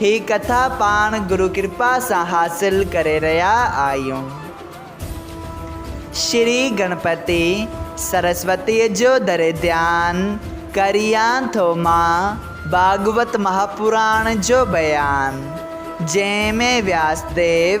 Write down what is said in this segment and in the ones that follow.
هي ڪٿا پاڻ گرو ڪرپا سان حاصل ڪري رهيا آهيون. شري گڻپتي سرسوتيء جو دري ڌيان ڪريان ٿو مان ڀاڳوت مهاپراڻ جو بيان، جنهن ۾ وياس ديو،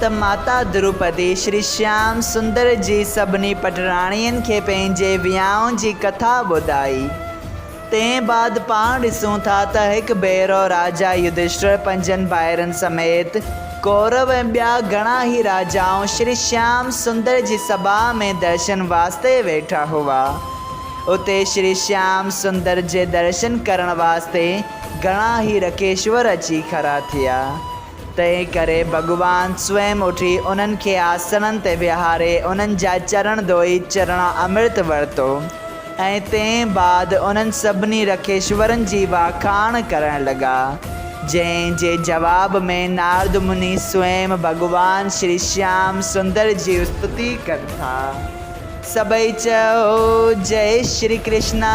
ته ماتا دروپدي شري شيام سندر جي سڀني پٽراڻين کي پنهنجي ويانهن جي ڪٿا ٻڌائي. تنهن بعد پاڻ ڏسون ٿا ته هڪ ڀيرو راجا يڌشٽر پنهنجن ڀائرن سميت ڪورو ۽ ٻيا گهڻا ئي راجائون شري شيام سندر جي سڀا ۾ درشن واسطي ويٺا هئا. اتي شري شيام سندر جي درشن ڪرڻ واسطي گهڻا ئي رڪيشور اچي کڙا ٿيا. تنهن ڪري ڀڳوان سوئم اٿي انهن کي آسڻن تي ويهاري انهن جا چرڻ ڌوئي چرڻا امرت ورتو ۽ تنهن بعد انهن سڀني رکيشورن جي واکاڻ ڪرڻ لڳا جنهن جي جواب ۾ نارد مني سوئم ڀڳوان شري شيام سندر جي استتي ڪن ٿا سڀئي چئو جئي شري ڪرشنا.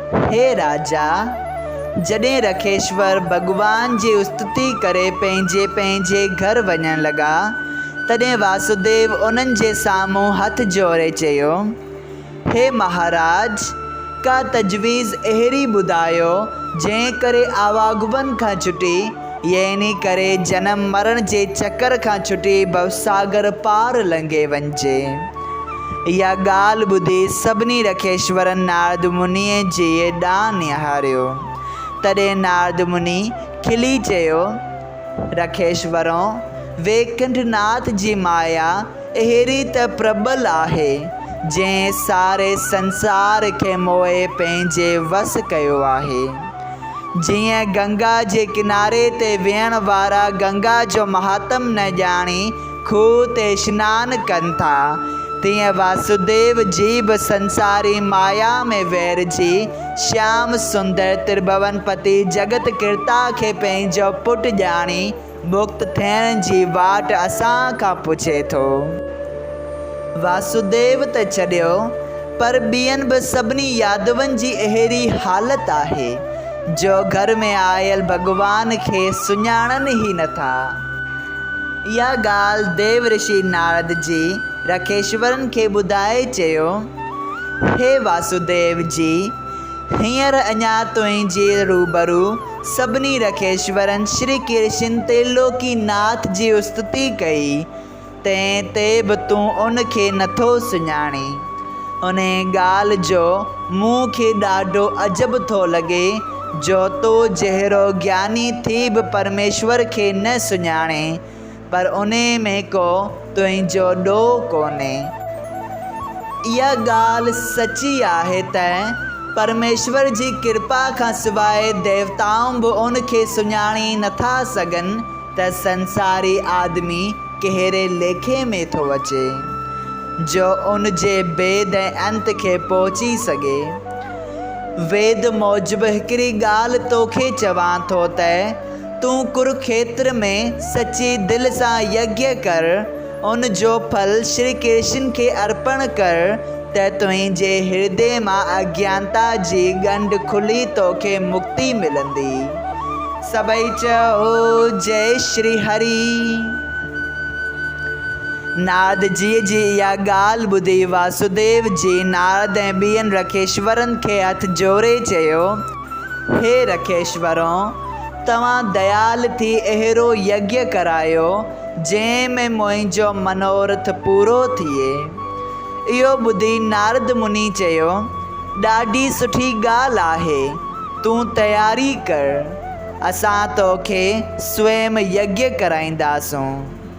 هي راجا! جڏهن رکيشور ڀڳوان جي استتي ڪري پنهنجي پنهنجي گهر وڃڻ لڳا، تڏهن واسوديو انهن جي سامهون هٿ جوڙي چيو، هي مهاراج! ڪا تجويز اهڙي ٻڌايو، جنهن ڪري آواگمن کان ڇٽي، يعنيٰ ڪري جنم مرڻ جي چڪر کان ڇٽي ڀوساگر پار لنگهي وڃجي. اها ڳالهه ٻڌي سڀني رکيشورن نارد منيء جيء ڏانهن نهاريو. تڏهن نارد مني کلي چيو، رکيشورؤ! ويڪنٺ ناٿ جي مايا اهڙي ته پرٻل آهي، جنهن ساري سنسار کي موهي پنهنجي وس ڪيو آهي. جيئن گنگا جي ڪناري تي ويهڻ وارا گنگا جو مهاتم نه ڄاڻي کوهه تي سنان ڪن ٿا، تيئن واسوديو جي به سنساري مايا ۾ ويهرجي شيام سندر ترڀوون پتي جڳت ڪرتا کي پنهنجو پٽ ڄاڻي مڪت ٿيڻ جي واٽ اسان کان پڇي ٿو. واسوديو ته ڇڏيو پر ٻين به سڀني يادون جي اهڙي حالت آهي جو گهر ۾ آيل ڀڳوان کي سڃاڻن ئي نه ٿا. اها ڳالهه ديو رشي نارد جي رکيشورن کي ٻڌائي چيو، هي واسوديو جي! هينئر اڃا تنهنجي روبرو سڀني رکيشورن شري ڪرشن ترلوڪي ناٿ جي استتي ڪئي، تنهن تي به تون ان کي نٿو سڃاڻين. انهيء ڳالهه جو مون کي ڏاڍو عجب ٿو لڳي جو تو جهڙو گياني ٿي به پرميشور کي نه سڃاڻين، پر انهي ۾ ڪو تنهنجو ڏوهه ڪونهي. اها ڳالهه سچي آهي ته پرميشور جي ڪرپا کان سواء ديوتائون به ان کي سڃاڻي نٿا سگهن ته سنساري آدمي ڪهڙي ليکي ۾ ٿو اچي، جو ان جي ڀيد ۽ انت کي پهچي سگهي. ويد موجب هڪڙي ڳالهه توکي چوان ٿو ته. تون ڪروکيتر ۾ سچي دل سان يگيا ڪر، ان جو ڦل شري ڪرشن کي ارپڻ ڪر ته تنهنجي هردي مان اجيانتا جي ڳنڍ کلي توکي مڪتي ملندي. سڀئي چئو جئي شري هري. ناردجيء جي اها ڳالهه ٻڌي واسوديو جي نارد ۽ ٻين رکيشورن کي هٿ جوڙي چيو. هي رڪيش ورون! توهان ديال ٿي اهڙو يگيء ڪرايو، جنهن ۾ منهنجو منورٿ پورو ٿئي. اهو ٻڌي نارد مني چيو، ڏاڍي سٺي ڳالهه آهي، تون تياري ڪر، اسان توکي سوئم يگيء ڪرائينداسون.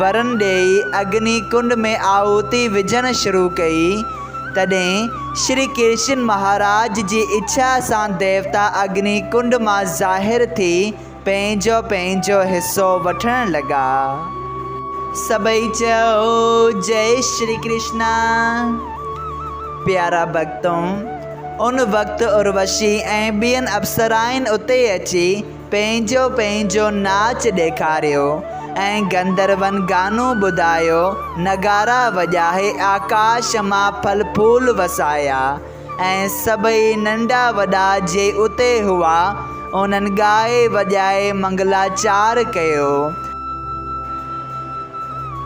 ورن ڏيئي اگني ڪنڊ ۾ آهوتي وجهڻ شروع ڪئي، تڏهن شري ڪرشن مهاراج جي اڇا سان ديوتا اگني ڪنڊ مان ظاهر ٿي پنهنجو پنهنجو حصو وٺڻ لڳا. سڀئي چيو جئي شري ڪرشنا. پيارا ڀڳتو! ان وقت اروشي ۽ ٻين اپسرائن اتي اچي پنهنجو پنهنجو ناچ ڏيکاريو ۽ گندروئن گانو ٻڌايو، نغارا وڄائي آڪاش مان ڦل ڦول وسايا ۽ سڀئي ننڍا وڏا جي اتي هئا انهن ڳائي وڄائي منگلاچار ڪيو.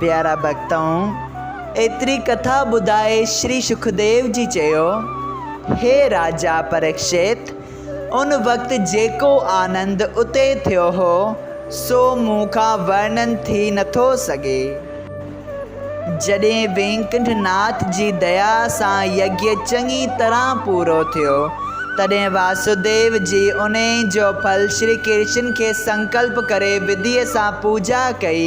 پيارا ڀڳتؤن! ايتري ڪٿا ٻڌائي شري سکديو جي چيو، هي راجا پريڪشت! ان وقت جيڪو آنند اتي ٿيو هو، سو مون کان ورنن ٿي نٿو سگهي. جڏهن وينڪنٺ ناٿ جي ديا سان يگيء چڱي طرح پورو ٿيو، تڏهن واسوديو جي انهيء جو ڦل شري ڪرشن کي سنڪلپ ڪري وڌيء سان پوڄا ڪئي،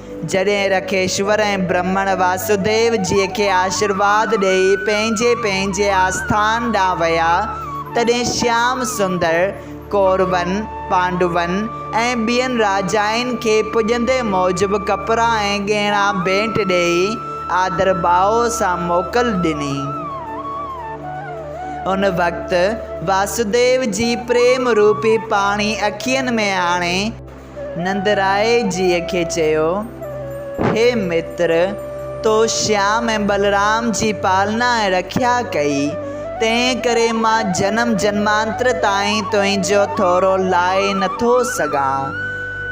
جڏهن رکيشور ۽ برهمڻ واسوديو جيء کي آشيرواد ڏيئي پنهنجي پنهنجي آسٿان ڏانهن ويا، تڏهن شيام سندر ڪورون، پانڊون ۽ ٻين راجائن کي پڄندي موجب ڪپڙا ۽ ڳهڻا ڀيٽ ڏيئي آڌر ڀاء سان موڪل ڏني. ان وقت واسوديو جي پريم روپي پاڻي اکين ۾ آڻي، نندرائي جيء کي چيو، هي متر! تو شيام ۽ بلرام جي پالنا ۽ رکيا ڪئي، تنهن ڪري مان جنم جنمانتر تائين تنهنجو ٿورو لائي نٿو سگهان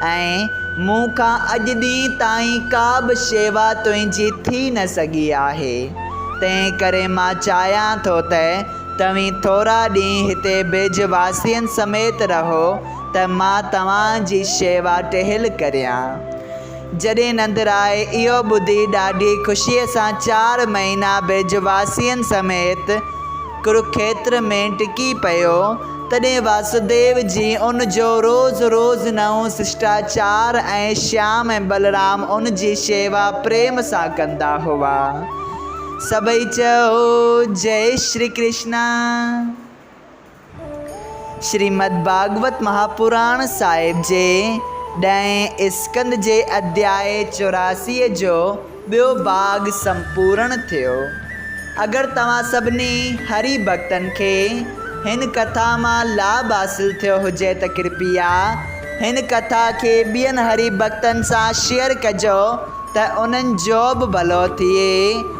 ۽ مون کان اڄ ڏينهن تائين ڪا به شيوا تنهنجي ٿي نه سگهي آهي، تنهن ڪري مان چاهيان ٿو ته توهين ٿورا ڏينهن هتي برج واسين سميت رهو ته مان توهان جي شيوا ٽهيل ڪريان. جڏهن نندرائي اهو ٻڌي ڏاڍي خوشيء سان چار مهينا برجواسين سميت ڪروکيتر ۾ ٽڪي پيو، تڏهن واسوديو جي ان جو روز روز نئون سشٽاچار ۽ شيام ۽ بلرام ان جي شيوا پريم سان ڪندا هئا. سڀئي چئو، جئي شري ڪرشنا! شريمد ڀاڳوت مهاپراڻ صاحب جي ڏهين اسڪند جي اڌياء چوراسيء جو ٻيو ڀاڳ سمپورڻ ٿيو. اگر توهان سڀني هري ڀڳتن کي هن ڪٿا مان لاڀ حاصل ٿيو هجي ته ڪرپيا هن ڪٿا کي ٻين هري ڀڳتن سان شيئر ڪجو ته انهن جو به ڀلو ٿئي.